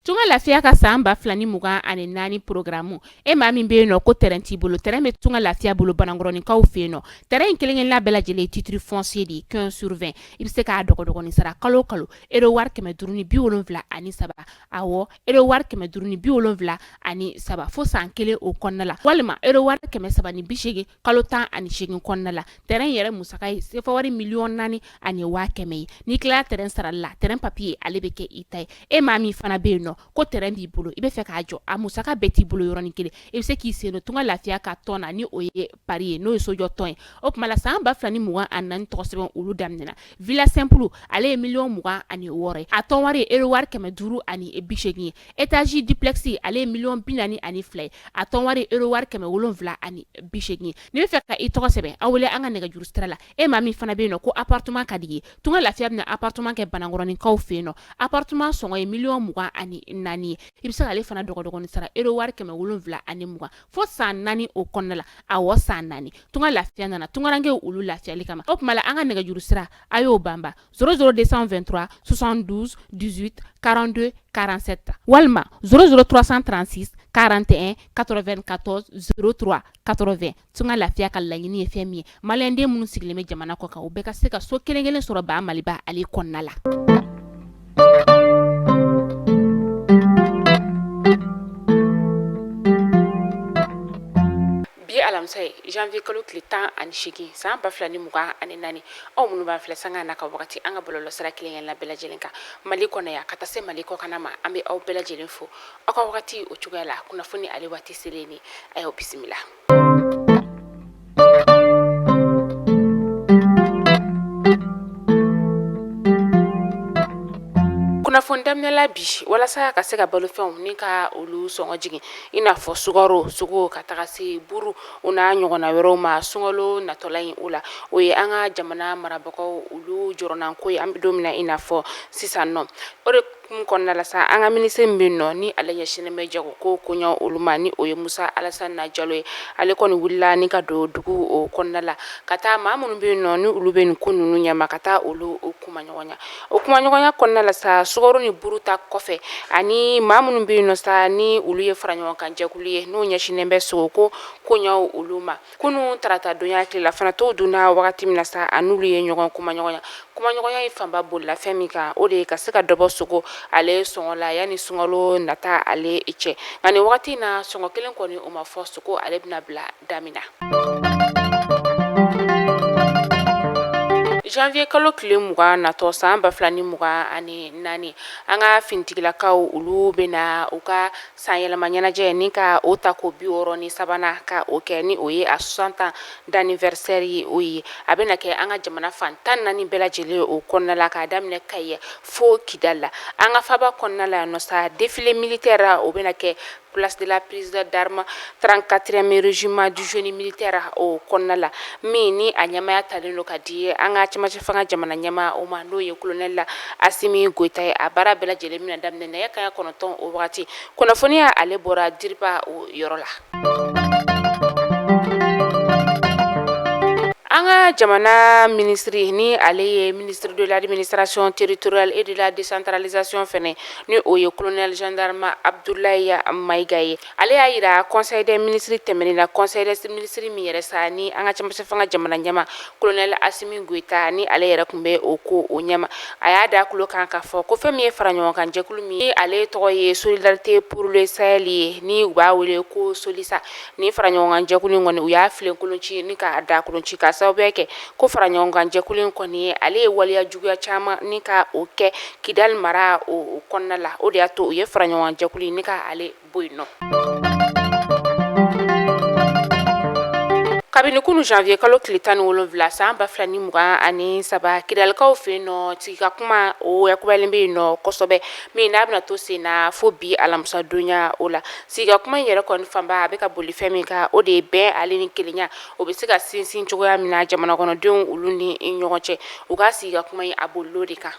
Tunga lafiya ka san ba fila ni mugan ani naani porogaramu e maa min bɛ yen nɔ ko tɛrɛn t'i bolo tɛrɛn bɛ tunga lafiya bolo banankɔrɔninkaw fɛ yen nɔ tɛrɛn kelenkelen la bɛɛ lajɛlen titre foncier de quinze sur vingt i bɛ se k'a dɔgɔdɔgɔnin sara kalo o kalo ero wari kɛmɛ duuru ni bi wolonwula ani saba awɔ ero wari kɛmɛ duuru ni bi wolonwula ani saba fo san kelen o kɔnɔna la walima ero wari kɛmɛ saba ni bisegin kalo tan ani segin kɔnɔna la tɛrɛn yɛrɛ musaka ye sefa wari miliyɔn naani ani waa kɛmɛ ye n'i tilala tɛrɛn sarali la tɛrɛn papiye ale bɛ kɛ i ta ye e maa min fana bɛ yen nɔ ko tɛrɛn b'i bolo i bɛ fɛ k'a jɔ a musaka bɛɛ t'i bolo yɔrɔnin kelen i bɛ se k'i sen don tunga lafiya ka tɔn na ni o ye pari ye n'o ye sojɔ tɔn ye o tuma la san ba fila ni mugan ani naani tɔgɔ sɛbɛn olu daminɛna villa simple ale ye miliyɔn mugan ani wɔɔrɔ a tɔn wari ere wari kɛmɛ duuru ani bisegin ye étage duplex ale ye miliyɔn bi naani ani fila ye a tɔn wari ere wari kɛmɛ wolon wolonwula ani bisegin ni bɛ fɛ ka i tɔgɔ sɛbɛn aw wele an ka nɛgɛjuru sira la e maa min fana bɛ yen nɔ ko appartement ka di i ye tunga lafiya bɛna appartement kɛ banankɔrɔninkaw fɛ yen nɔ appartement sɔngɔ ye miliyɔn mugan ani naani ye i bɛ se k'ale fana dɔgɔdɔgɔnin sara ero wari kɛmɛ wolonwula ani mugan fo san naani o kɔnɔna la a wa san naani tun ka lafiya nana tunkarakarankɛ olu lafiyali kama o tuma an ka nɛgɛjuru sira a y'o banba szouru de sanfɛ2 sonsan duuru karante karansɛ ta walima sroursan transi karante katɔ2 katɔ s katorofɛ tun ka lafiya ka laɲiniini ye fɛn min ye maliyɛnden minnu sigilen bɛ jamana kɔ kan u bɛɛ ka se ka so kelenkelen sɔrɔ ba maliba ale kɔnɔna la bi alamisa ye janvier kalo tile tan ani segin san ba fila ni mugan ani naani aw minnu b'an filɛ sanga n'a ka wagati an ka bɔlɔlɔsira kelenkelen la bɛɛ lajɛlen kan mali kɔnɔna yan ka taa se mali kɔkanna ma an bɛ aw bɛɛ lajɛlen fo aw ka wagati o cogoya la kunnafoni ale waati selen ni a y'aw bisimila kunnafoni daminɛla bi walasa ka se ka balofɛnw ni ka olu sɔngɔ jigin i n'a fɔ sukaro sogo ka taga se buru o n'a ɲɔgɔnna wɛrɛw ma sunkalo natɔla in o la o ye an ka jamana marabagaw olu jɔrɔnanko ye an bɛ don min na i n'a fɔ sisan nɔ o de Hukumu kɔnɔna la sa an ka minisiri min bɛ nɔ ni ale ɲɛsinnen bɛ jago ko koɲa olu ma ni o ye musa alasani jalo ye ale kɔni wulila ni ka don dugu o kɔnɔna la ka taa maa minnu bɛ nɔ ni olu bɛ nin ko ninnu ɲɛma ka taa olu kumaɲɔgɔnya o kumaɲɔgɔnya kɔnɔna la sa sukaro ni buru ta kɔfɛ ani maa minnu bɛ nɔ sa ni olu ye fara ɲɔgɔn kan jɛkulu ye n'o ɲɛsinnen bɛ sogo ko koɲa olu ma Kunun tarata donya tilela fana tow dunna wagati min na sa a n'olu ye ɲɔgɔn kumaɲɔgɔnya kumaɲɔgɔnya in fanba bolila fɛn min kan o de ye ka se ka dɔ bɔ sogo ale sɔngɔ la yanni sunkalo nata ale cɛ nka nin wagati in na sɔngɔ kelen kɔni o ma fɔ sogo ale bɛna bila da min na janvier kalo tile mugan natɔ san ba fila ni mugan ani naani an ka finitigilakaw olu bɛna u ka san yɛlɛma ɲɛnajɛ ni ka o ta ko bi wɔɔrɔ ni sabanan ka o kɛ ni o ye a soixante ans d'anniversaire ye o ye a bɛna kɛ an ka jamana fan tan naani bɛɛ lajɛlen o kɔnɔna la k'a daminɛ Kayi fo Kidali la an ka faba kɔnɔna la yan nɔ sa défilé militaire o bɛna kɛ place de la prise d'armes Trente-quatrième régiment du génie militaire o kɔnɔna la min ni a ɲɛmaya talen don ka di an ka cɛmancɛ fanga jamana ɲɛmaa o ma n'o ye kolonɛli Asimi Goyita ye a baara bɛɛ lajɛlen bɛna daminɛ nɛgɛ kanɲɛ kɔnɔntɔn o waati kunnafoniya ale bɔra DIRPA o yɔrɔ la an ka jamana minisiri ni ale ye ministre de l'administration territoriale et de la décentralisation fana ni o ye kolonɛli zandarama Abudulaye Mayiga ye Ale y'a yira conseil des ministres tɛmɛnen na conseil des ministres min yɛrɛ sa ni an ka cɛmancɛ fanga jamana ɲɛmaa kolonɛli Asimi Goyita ni ale yɛrɛ tun bɛ o ko o ɲɛma a y'a da a tulo kan ka fɔ ko fɛn min ye fara ɲɔgɔn kan jɛkulu min ni ale tɔgɔ ye Solidarité pour le Sahel ye ni u b'a wele ko SOLISA ni fara ɲɔgɔnkan jɛkulu in kɔni u y'a filenkolon ci ni k'a daakolon ci ka sababu kɛ ko fara ɲɔgɔnkanjɛkulu in kɔni ye ale ye waleya juguya caman ni ka o kɛ Kidali mara o kɔnɔna la o de y'a to u ye fara ɲɔgɔnkanjɛkulu in ka ale bɔ yen nɔ kabini kunun janvier kalo tile tan ni wolonwula san ba fila ni mugan ani saba Kidalikaw fɛ yen nɔ sigi ka kuma o yakubalen bɛ yen nɔ kosɛbɛ min n'a bɛna to sen na fo bi alamisadonya o la sigika kuma in yɛrɛ kɔni fanba a bɛ ka boli fɛn min kan o de ye bɛn ale ni kelenya o bɛ se ka sinsin cogoya min na jamana kɔnɔdenw olu ni ɲɔgɔn cɛ u ka sigi ka kuma in a bolil'o de kan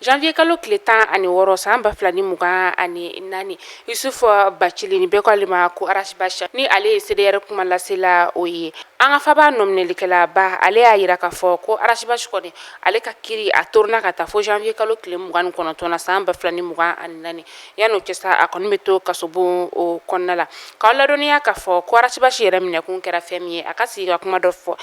janvier kalo tile tan ani wɔɔrɔ san ba fila ni mugan ani naani Yusufu Bacili ni bɛɛ k'ale ma ko Ras Bath ni ale ye CDR kuma lasela o ye an ka faba nɔminɛlikɛlaba ale y'a yira k'a fɔ ko Ras Bath kɔni ale ka kiri a toronna ka taa fo janvier kalo tile mugan ni kɔnɔntɔn na san ba fila ni mugan ani naani yann'o cɛ sa a kɔni bɛ to kasobon o kɔnɔna la k'aw ladɔnniya k'a fɔ ko Ras Bath yɛrɛ minɛkun kɛra fɛn min ye a ka sigi ka kuma dɔ fɔ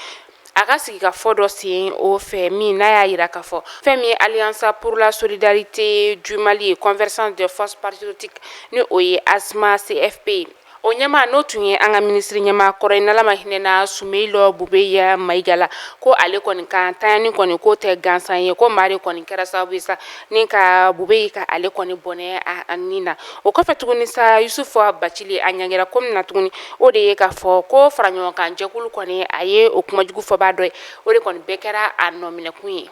a ka sigi ka fɔ dɔ sen o fɛ min n'a y'a yira k'a fɔ fɛn min ye Alliance pour la solidarité du Mali convergence des forces patriotiques ni o ye ASMA CFP ye o ɲɛmaa n'o tun ye an ka minisiri ɲɛmaa kɔrɔ ye n'ala ma hinɛna sumeyilu bubɛyi mayiga la ko ale kɔni ka ntanyani kɔni k'o tɛ gansan ye ko maa de kɔni kɛra sababu ye sa ni ka bubɛyi ka ale kɔni bɔnɛ a ni na o kɔfɛ tuguni sa yusufu bacili a ɲangira ko min na tuguni o de ye k'a fɔ ko fara ɲɔgɔn kan jɛkulu kɔni a ye o kuma jugu fɔbaa dɔ ye o de kɔni bɛɛ kɛra a nɔminɛkun ye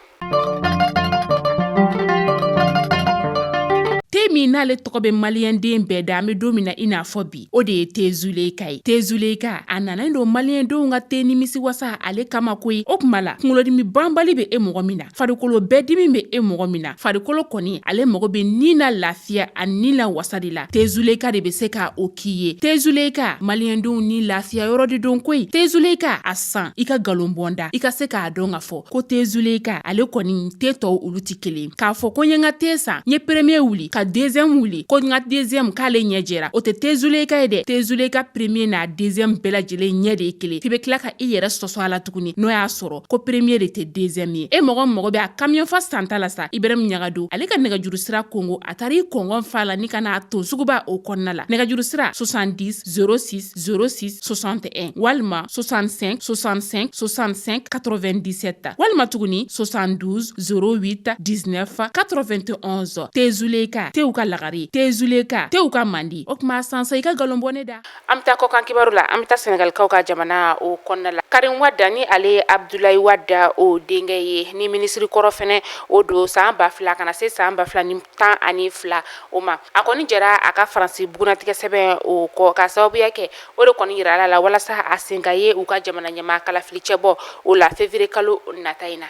min n'ale tɔgɔ bɛ maliyɛnden bɛɛ da an bɛ don min na i n'a fɔ bi o de ye tezuleka ye tezuleka a nana don maliyɛndenw ka te nimisi wasa ale kama koyi o tuma la kunkolodimi banbali bɛ e mɔgɔ min na farikolo bɛɛ dimi bɛ e mɔgɔ min na farikolo kɔni ale mago bɛ ni na lafiya ani ni la wasa de la tezuleka de bɛ se ka o k'i ye tezuleka maliyɛndenw ni lafiya yɔrɔ de don koyi tezuleka a san i ka nkalon bɔ n da i ka se k'a dɔn k'a fɔ ko tezuleka ale kɔni te tɔw olu tɛ kelen k'a fɔ ko n ye n ka te san n ye premier wuli ka deuxième wuli ko n ka deuxième k'ale ɲɛ jɛra o tɛ tezuleka ye dɛ tezuleka premier n'a deuxième bɛɛ lajɛlen ɲɛ de ye kelen f'i bɛ tila ka i yɛrɛ sɔsɔ a la tuguni n'o y'a sɔrɔ ko premier de tɛ deuxième ye e mɔgɔ mago bɛ a kamiyɔn fa santa la sa ibrahimu ɲagado ale ka nɛgɛjuru sira kongo a taara i kɔngɔn fa la ni ka n'a ton suguba o kɔnɔna la nɛgɛjuru sira 70 0606 61 walima 65 65 65 97 walima tuguni 72 08 19 91 tezuleka tew ka lagare tezuleka tew ka mandi o tuma a san sa i ka nkalon bɔ ne da an bɛ taa kɔkan kibaru la an bɛ taa sɛnɛgalikaw ka jamana o kɔnɔna la karim wada ni ale ye abdulayi wada o denkɛ ye ni minisiri kɔrɔ fɛnɛ o don san ba fila ka na se san ba fila ni tan ani fila o ma a kɔni jɛra a ka faransi bugunnatigɛ sɛbɛn o kɔ k'a sababuya kɛ o de kɔni jira a la walasa a sen ka ye u ka jamana ɲɛmaa kalafili cɛbɔ o la février kalo nata in na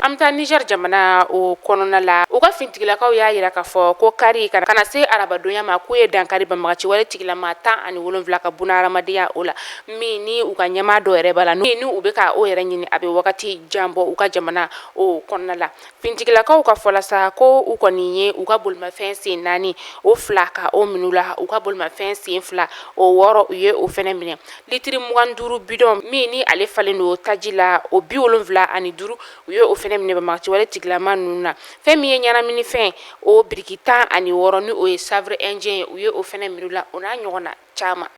an bɛ taa niger jamana o kɔnɔna la u ka fintigilakaw y'a jira k'a fɔ ko kari ka na se arabadon ya ma k'u ye dankari banbagaci wale tigilama tan ani wolonwula ka bɔnɛ hadamadenya o la min ni u ka ɲɛmaa dɔ yɛrɛ b'a la ni u bɛ ka o yɛrɛ ɲini a bɛ wagati jan bɔ u ka jamana o kɔnɔna la fintigilakaw ka fɔ la sa ko u kɔni ye u ka bolimafɛn sen naani o fila ka o minɛ u la u ka bolimafɛn sen fila o wɔɔrɔ u ye o fɛnɛ minɛ litiri mugan duuru bidɔn min ni ale falen don taji la o bi wolonwula ani duuru u ye o fɛnɛ minɛ banbagaci wale tigilama ninnu na fɛn min ye ɲɛnaminifɛn o biriki tan ani wɔɔrɔ ni o ye chanvre indien ye u ye o fɛnɛ minɛ u la o n'a ɲɔgɔnna caman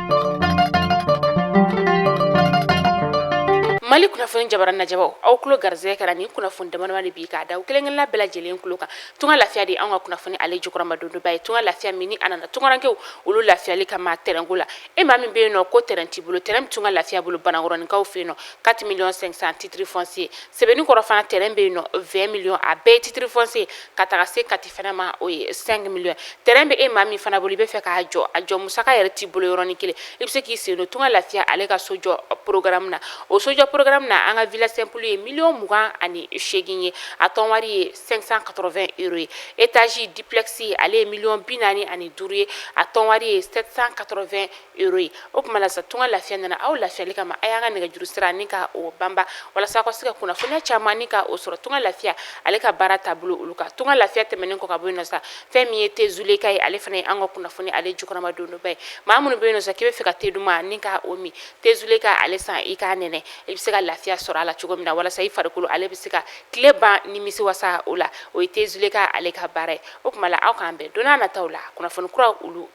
mali kunnafoni jabara lajɛbaw aw tulo garisɛgɛ kɛra nin kunnafoni damadama de bi k'a d'aw kelenkelenna bɛɛ lajɛlen tulo kan tunga lafiya de an ka kunnafoni ale jukɔrɔmadondonbaa ye tunga lafiya min ni a nana tungarankew olu lafiyali kama tɛrɛnko la e maa min bɛ yen nɔ ko tɛrɛn t'i bolo tɛrɛn bɛ tunga lafiya bolo banakɔrɔninkaw fɛ yen nɔ 4 miliyɔn 500 titiri fɔnsiye sebeninkɔrɔ fana tɛrɛn bɛ yen nɔ 20 miliyɔn a bɛɛ ye titiri fɔnsiye ka taga se kati fana ma o ye 5 millions terrain bɛ e maa min fana bolo i bɛ fɛ k'a jɔ a jɔ musaka yɛrɛ t'i bolo yɔrɔnin kelen i bɛ se k'i sen don tunga lafiya ale ka sojɔ programme na o sojɔ programme na an ka villa simple ye miliyɔn mugan ani seegin ye a tɔn wari ye 580 euro ye étage duplex ale ye miliyɔn bi naani ani duuru ye a tɔn wari ye 780 ye o kuma la sa tunga lafiya nana aw lafiyali kama a y'an ka nɛgɛjuru sira ni ka o banba walasa aw ka se ka kunnafoniya caman ni ka o sɔrɔ tunga lafiya ale ka baara taabolo olu kan tunga lafiya tɛmɛnen kɔ ka bɔ yen nɔ sa fɛn min ye te zuleka ye ale fana ye an ka kunnafoni ale jukɔrɔmadondonba ye maa minnu bɛ yen nɔ sa k'i bɛ fɛ ka te duman ni ka o min te zuleka ale san i k'a nɛnɛ i bɛ se ka lafiya sɔrɔ a la cogo min na walasa i farikolo ale bɛ se ka tile ban nimisiwasa o la o ye te zuleka ale ka baara ye o kuma la aw k'an bɛn don nataw la kunnafoni kura olu